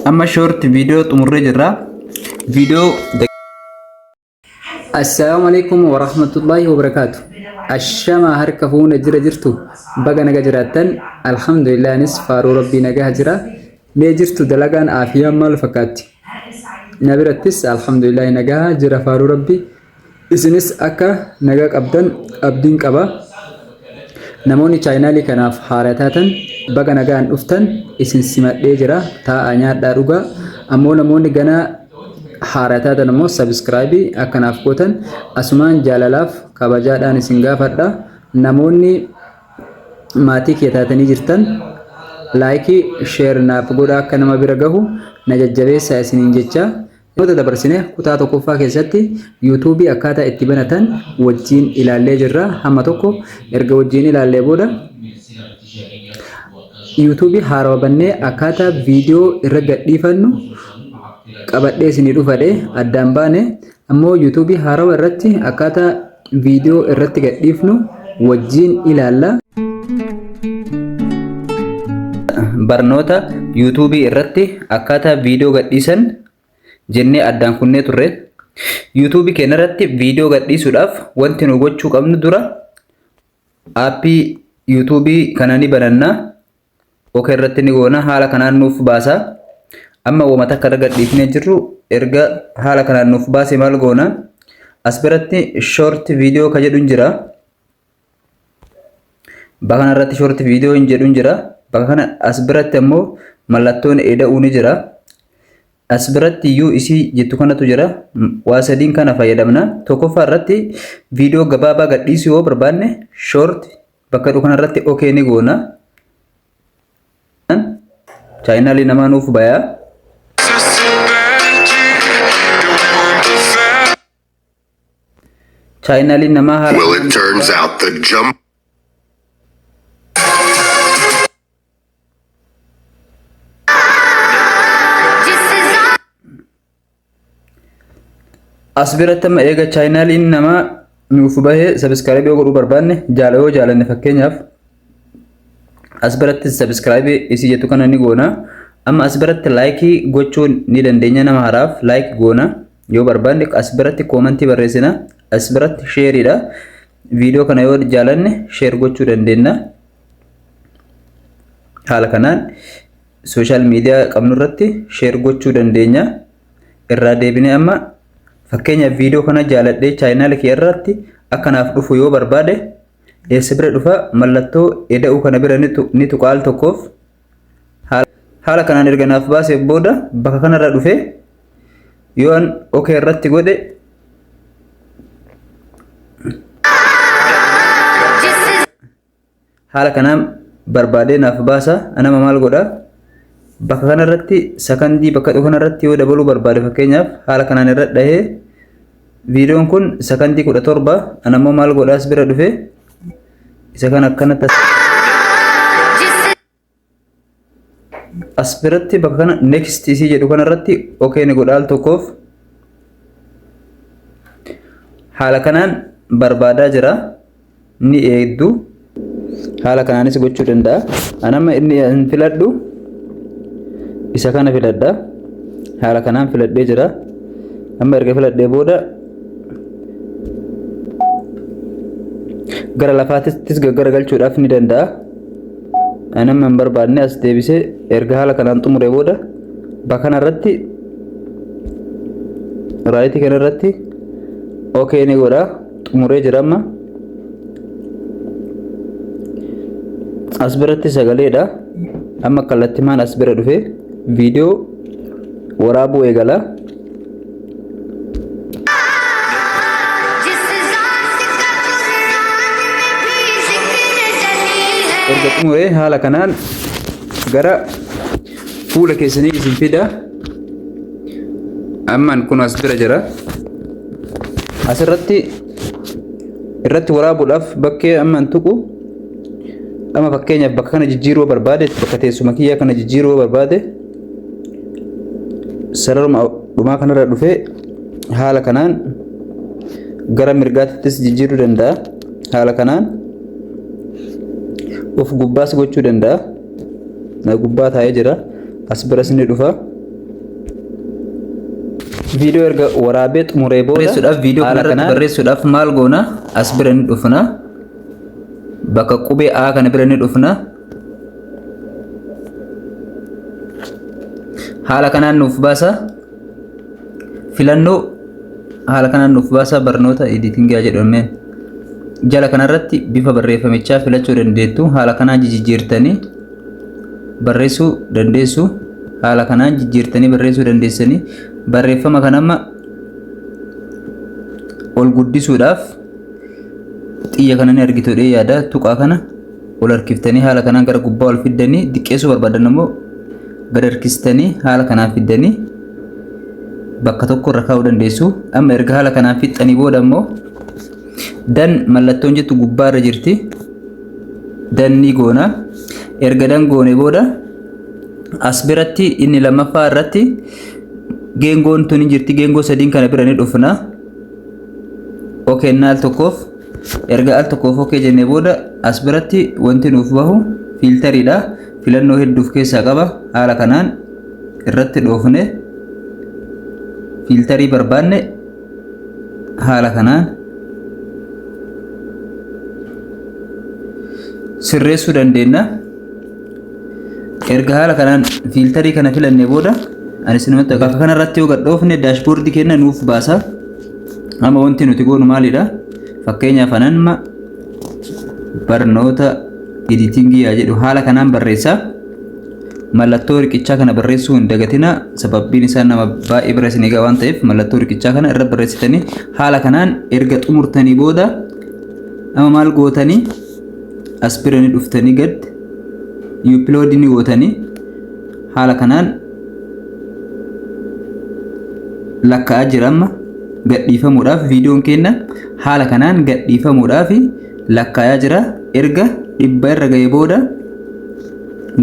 Amma short video xumurree jirra. Video Assalaamu alaikum wa rahmatullahi wa barakaatu. Ashama harka fuuna jira jirtu baga naga jiraattan alhamdulillah anis faaruu rabbii nagaa jira mee jirtu dalagaan aafiyaan maal fakkaatti na birattis alhamdulillah nagaa jira faaruu rabbii Isinis akka nagaa qabdan abdiin qaba. Namoonni chaayinaalii kanaaf haaraa taatan baga nagaan dhuftan isin simadhee jira. Taa'aa nyaadhaa dhugaa. Ammoo namoonni ganaa haaraa taatan ammoo sabiskiraayibii akka naaf gootan asumaan jaalalaaf kabajaadhaan isin gaafadha. Namoonni maatii kiyya taatanii jirtan laayikii sheer naaf godhaa akka nama bira gahu na jajjabeessaa isiniin jechaa. Barnoota dabarsine kutaa tokkoffaa keessatti yuutuubii akkaataa itti banatan wajjiin ilaallee jirra. Hamma tokko erga wajjiin ilaallee booda yuutuubii haarawa bannee akkaataa viidiyoo irra gadhiifannu qabadhee isinii dhufadhe addaan baane ammoo yuutuubii haarawa irratti akkaataa viidiyoo irratti gadhiifnu wajjiin ilaalla. Barnoota YouTube irratti akkaataa viidiyoo gadhiisan jennee addaan kunnee turre. YouTube keenya irratti viidiyoo gadhiisuudhaaf wanti nu gochuu qabnu dura aappii YouTube kana ni bananna. ok irratti ni goona haala kanaan nuuf baasa amma woma takka irra gadhiifnee jirru erga haala kanaan nuuf baase maal goona as biratti short video ka jedhu hin jira bakka kana irratti short video hin jedhu hin jira bakka kana as biratti ammoo mallattoon eda'uu ni jira as biratti iyyuu isii jettu kanatu jira waa sadiin kana fayyadamna tokkoffaa irratti viidiyoo gabaabaa gadhiisuu yoo barbaanne short bakka jedhu kanarratti ok ni goona. Chaayinaalii namaa nuuf bayaa. Chaayinaalii namaa haala. Well, it turns out the jump. As biratti amma eega chaayinaaliin namaa nuuf bahee sabiskiraayibii godhuu barbaanne jaala yoo jaalanne fakkeenyaaf as biratti sabiskiraayibii isii jettu kana ni goona. Amma as biratti laayikii gochuu ni dandeenya nama haraaf laayik goona yoo barbaanne as biratti koomantii barreessina as biratti sheeriidha. Viidiyoo kana yoo jaalanne sheer gochuu dandeenya. Haala kanaan Sooshaal miidiyaa qabnu irratti sheer gochuu dandeenya. Irraa deebinee amma fakkeenyaaf viidiyoo kana jaaladhee chaayinaala kiyya irratti akka naaf dhufu yoo barbaade eessa bira dhufa mallattoo eda'uu kana bira ni tuqa al tokkoof haala kanaan erga naaf baasee booda bakka kanarra dhufee yoo an ok irratti godhe Haala kanaan barbaadee naaf baasa. Anama maal godha? Bakka kanarratti sakandii bakka dhufu kanarratti yoo dabaluu barbaade fakkeenyaaf haala kanaan irra dhahee viidiyoon kun sakandii kudha torba anammoo maal godhaas bira dhufe isa kan akkanatti as biratti bakka kana next isii jedhu kana irratti okay ni godha al tokkoof haala kanaan barbaadaa jira ni eegdu haala kanaanis gochuu danda'a anama inni hin filadhu isa kana filadha haala kanaan filadhee jira amma erga filadhee booda gara lafaattis gaggaragalchuudhaaf ni danda'a anam hin barbaadne as deebisee erga haala kanaan xumuree booda bakana irratti raayitii kana irratti okee ni godha xumuree jira amma as biratti sagaleedha amma kallattimaan as bira dhufe viidiyoo waraabuu eegala. erga xumuree haala kanaan gara fuula keessanii isin fida ammaan kun as bira jira asirratti irratti waraabuudhaaf bakkee ammaan tuqu amma fakkeenyaaf bakka kana jijjiiruu barbaade bakka teessuma kiyyaa kana jijjiiruu barbaade sararuma dhumaa kanarra dhufee haala kanaan gara mirgaattis jijjiiruu danda'a haala kanaan of gubbaas gochuu danda'a na gubbaa taa'ee jira as biras ni dhufa viidiyoo erga waraabee xumuree booda barreessuudhaaf viidiyoo haala kanarratti kanaan barreessuudhaaf maal goona as bira ni dhufna bakka qubee A kana bira ni dhufna haala kanaan nuuf baasa filannoo haala kanaan nuuf baasa barnoota editingaa jedhameen jala kanarratti bifa barreeffamichaa filachuu dandeettu haala kanaa jijjiirtanii barreessuu dandeessu haala kanaan jijjiirtanii barreessuu dandeessanii barreeffama kan amma ol guddisuudhaaf xiyya kana ni argitu dhee yaada tuqaa kana ol harkiftanii haala kanaan gara gubbaa ol fiddanii diqqeessuu barbaadan immoo gad harkistanii haala kanaan fiddanii bakka tokko irra kaa'uu dandeessu. Amma erga haala kanaan fixxanii booda immoo dan mallattoon jettu gubbaa irra jirti. Dan ni goona. Erga dan goone booda as biratti inni lammaffaa irratti geengoon tun hin jirti. Geengoo sadiin kana bira ni dhufna. ok inni al tokkoof erga al tokkoof ok jennee booda as biratti wanti nuuf bahu fiiltariidha filannoo hedduuf keessaa qaba haala kanaan irratti dhoofne fiiltarii barbaanne haala kanaan sirreessuu dandeenya. Erga haala kanaan fiiltarii kana filannee booda ani sinumatti akka kanarratti yoo gad dhoofne daashboordii keenya nuuf baasa. Amma wanti nuti goonu maalidha? Fakkeenyaaf ananma barnoota editingii yaa jedhu haala kanaan barreessaa. Mallattoo riqichaa kana barreessuu hin dagatinaa sababiin isaa nama baay'ee bira isin egaa waan ta'eef mallattoo riqichaa kana irra barreessitanii haala kanaan erga xumurtanii booda amma maal gootanii as bira ni dhuftanii gad upload ni gootanii haala kanaan lakka'aa jira amma gadhiifamuudhaaf viidiyoon keenya haala kanaan gadhiifamuudhaaf lakka'aa jira erga dhibba irra ga'e booda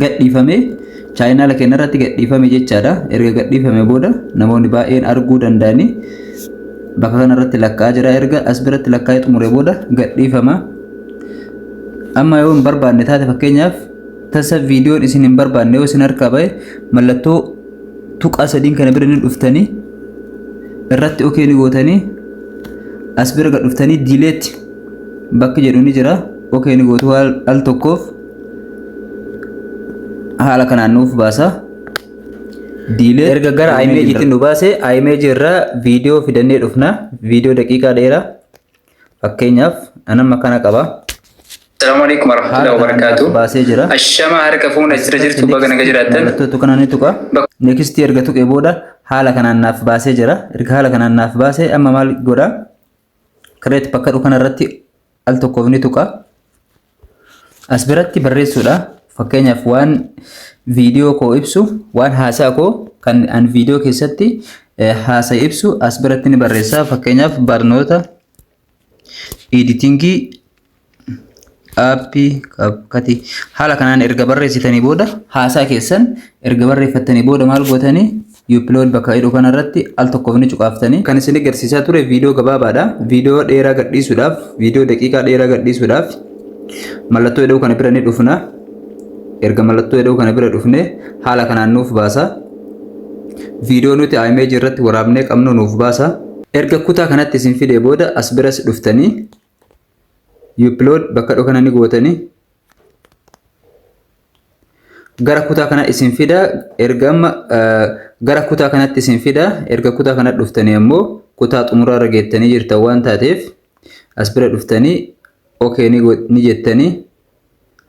gadhiifamee chaayinaala keenya irratti gadhiifame jechaadha erga gadhiifame booda namoonni baay'een arguu danda'anii bakka kanarratti lakka'aa jira erga as biratti lakka'ee xumure booda gadhiifama. amma yoo hin barbaanne taate fakkeenyaaf tasa viidiyoon isin hin barbaanne yoo isin harkaa ba'e mallattoo tuqaa sadiin kana bira ni dhuftanii irratti okee ni gootanii as bira gad dhuftanii diileetti bakki jedhu ni jira okee ni gootu al al tokkoof haala kanaan nuuf baasa. Diilee erga gara imeejiitti nu baase imeejii irraa viidiyoo fidannee dhufna viidiyoo daqiiqaa dheeraa. Fakkeenyaaf an amma kana qaba. Assalamu alaikum warahmatullahi wabarakatuh. Baasee jira. Ashama harka fuuna jira jirtu baga naga jiraattan. Mallattootu kana ni tuqa. Next erga tuqee booda haala kanaan naaf baasee jira. Erga haala kanaan naaf baasee amma maal godha? Create bakka dhufu kanarratti al tokkoof ni tuqa. As biratti barreessuudha. Fakkeenyaaf waan viidiyoo koo ibsu, waan haasaa koo kan an viidiyoo keessatti haasa ibsu as biratti ni barreessa. Fakkeenyaaf barnoota editingii aappii kati haala kanaan erga barreessitanii booda haasaa keessan erga barreeffattanii booda maal gootanii Upload bakka jedhu kana irratti al tokkoof ni cuqaaftani. Kan isin agarsiisaa ture viidiyoo gabaabaadha. Viidiyoo dheeraa gadhiisuudhaaf, viidiyoo daqiiqaa dheeraa gadhiisuudhaaf mallattoo jedhu kana bira ni dhufna. Erga mallattoo jedhu kana bira dhufne haala kanaan nuuf baasa. Viidiyoo nuti image irratti waraabnee qabnu nuuf baasa. Erga kutaa kanatti isin fidee booda as biras dhuftanii upload bakka dhoo kana ni gootanii gara kutaa kana isin fida erga amma gara kutaa kanatti isin fida erga kutaa kana dhuftanii ammoo kutaa xumuraa irra geettanii jirtan waan taateef as bira dhuftanii okay ni jettanii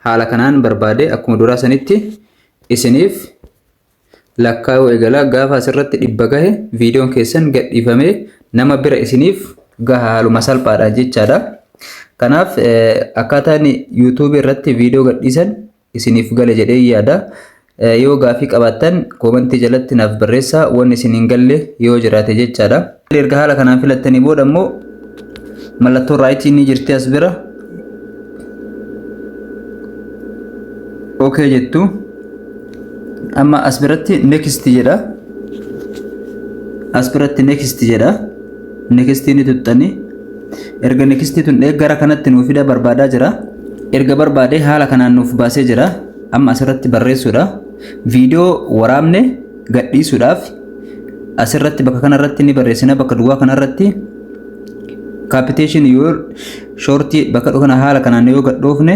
haala kanaan barbaade akkuma duraa sanitti isiniif lakkaa'uu eegalaa gaafa asirratti dhibba gahe viidiyoon keessan gadhiifamee nama bira isiniif gaha haaluma salphaadha jechaadha. Kanaaf akkaataan yuutuubii irratti viidiyoo gadhiisan isiniif gale jedhee yaada. Yoo gaafii qabaattan koomantii jalatti naaf barreessaa waan isin hin galle yoo jiraate jechaadha. Erga haala kanaan filattanii booda immoo mallattoo raayitii ni jirti as bira. Okay jettu. Amma as biratti next jedha. As biratti next jedha. Next ni tuttani. Erga next tun gara kanatti nuuf fida barbaadaa jira. Erga barbaadee haala kanaan nuuf baasee jira. Amma asirratti barreessuudha. Viidiyoo waraabne gadhiisuudhaaf asirratti bakka kanarratti ni barreessina bakka duwwaa kanarratti capitation your short bakka kana haala kanaan yoo gadhoofne